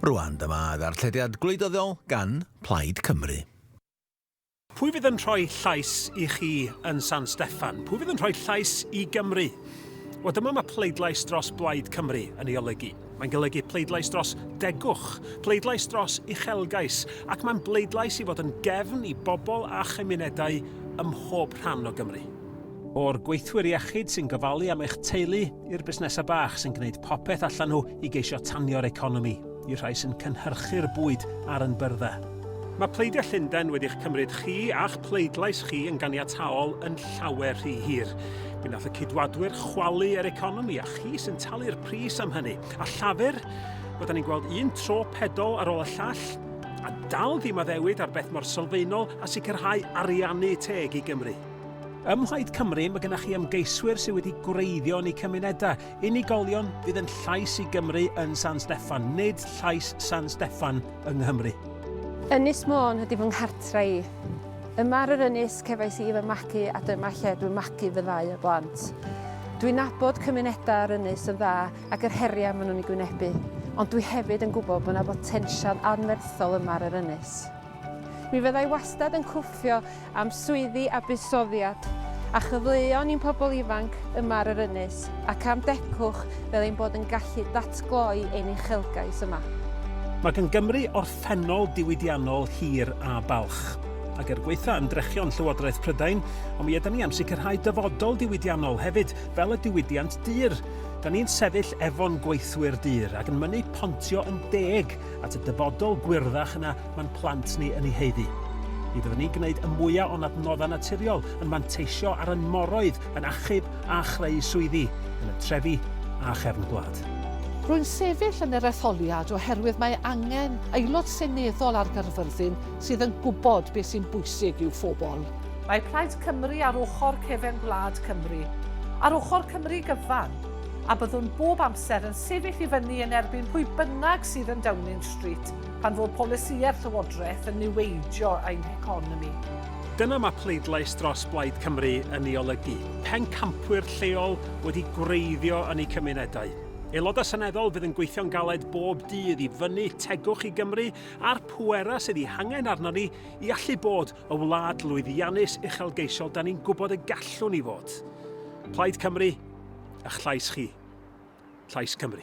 Rwan dyma ddarllediad gwleidyddiol gan Plaid Cymru. Pwy fydd yn rhoi llais i chi yn San Steffan? Pwy fydd yn rhoi llais i Gymru? Wel dyma mae pleidlais dros Blaid Cymru yn ei olygu. Mae'n golygu pleidlais dros degwch, pleidlais dros uchelgais, ac mae'n bleidlais i fod yn gefn i bobl a chymunedau ym mhob rhan o Gymru. O'r gweithwyr iechyd sy'n gofalu am eich teulu, i'r busnesau bach sy'n gwneud popeth allan nhw i geisio tanio'r economi, i'r rhai sy'n cynhyrchu'r bwyd ar yn byrddau. Mae pleidiau Llundain wedi'ch cymryd chi a'ch pleidlais chi yn ganiataol yn llawer rhy hir. Mi nath y Cydwadwyr chwalu yr economi a chi sy'n talu'r pris am hynny. A Llafur? Wel, da ni'n gweld un tro pedol ar ôl y llall, a dal ddim addewid ar beth mor sylfaenol a sicrhau ariannu teg i Gymru. Ym Mhlaid Cymru, mae gennych chi ymgeiswyr sydd wedi gwreiddio yn eu cymunedau. Unigolion fydd yn llais i Gymru yn San Steffan, nid llais San Steffan yng Nghymru. Ynys Môn ydy fy nghartre i. Yma ar yr ynys cefais i fy magu a dyma lle dwi'n magu fy ddau o blant. Dwi'n nabod cymunedau yr ynys yn dda ac yr heriau maen nhw'n ei gwynebu, ond dwi hefyd yn gwybod bod yna botensial anferthol yma ar yr ynys. Mi fydda i wastad yn cwffio am swyddi a buddsoddiad a chyfleon i'n pobl ifanc yma ar yr ynys ac am degwch fel ein bod yn gallu datgloi ein uchelgais yma. Mae gan Gymru orffennol diwydiannol hir a balch. Ac er gwaetha ymdrechion Llywodraeth Prydain, ond mi ydan ni am sicrhau dyfodol diwydiannol hefyd, fel y diwydiant dur. Dan ni'n sefyll efo'n gweithwyr dur ac yn mynnu pontio yn deg at y dyfodol gwyrddach yna Mae'n plant ni yn ei haeddu. Mi fyddwn ni'n gwneud y mwyaf o'n adnoddau naturiol, yn manteisio ar ein moroedd, yn achub a chreu swyddi, yn y trefi a chefn gwlad. Rwy'n sefyll yn yr etholiad oherwydd mae angen Aelod Seneddol ar Gaerfyrddin sydd yn gwybod beth sy'n bwysig i'w phobl. Mae Plaid Cymru ar ochr cefen gwlad Cymru, ar ochr Cymru gyfan, a byddwn bob amser yn sefyll i fyny yn erbyn pwy bynnag sydd yn Downing Street, Pan fo polisïau'r Llywodraeth yn niweidio ein heconomi. Dyna mae pleidlais dros Blaid Cymru yn ei olygu. Pencampwyr lleol wedi gwreiddio yn eu cymunedau. Aelodau Seneddol fydd yn gweithio'n galed bob dydd i fynnu tegwch i Gymru a'r pwerau sydd ei hangen arnon ni i allu bod y wlad lwyddiannus uchelgeisiol da ni'n gwybod y gallwn ni fod. Plaid Cymru, ych llais chi. Llais Cymru.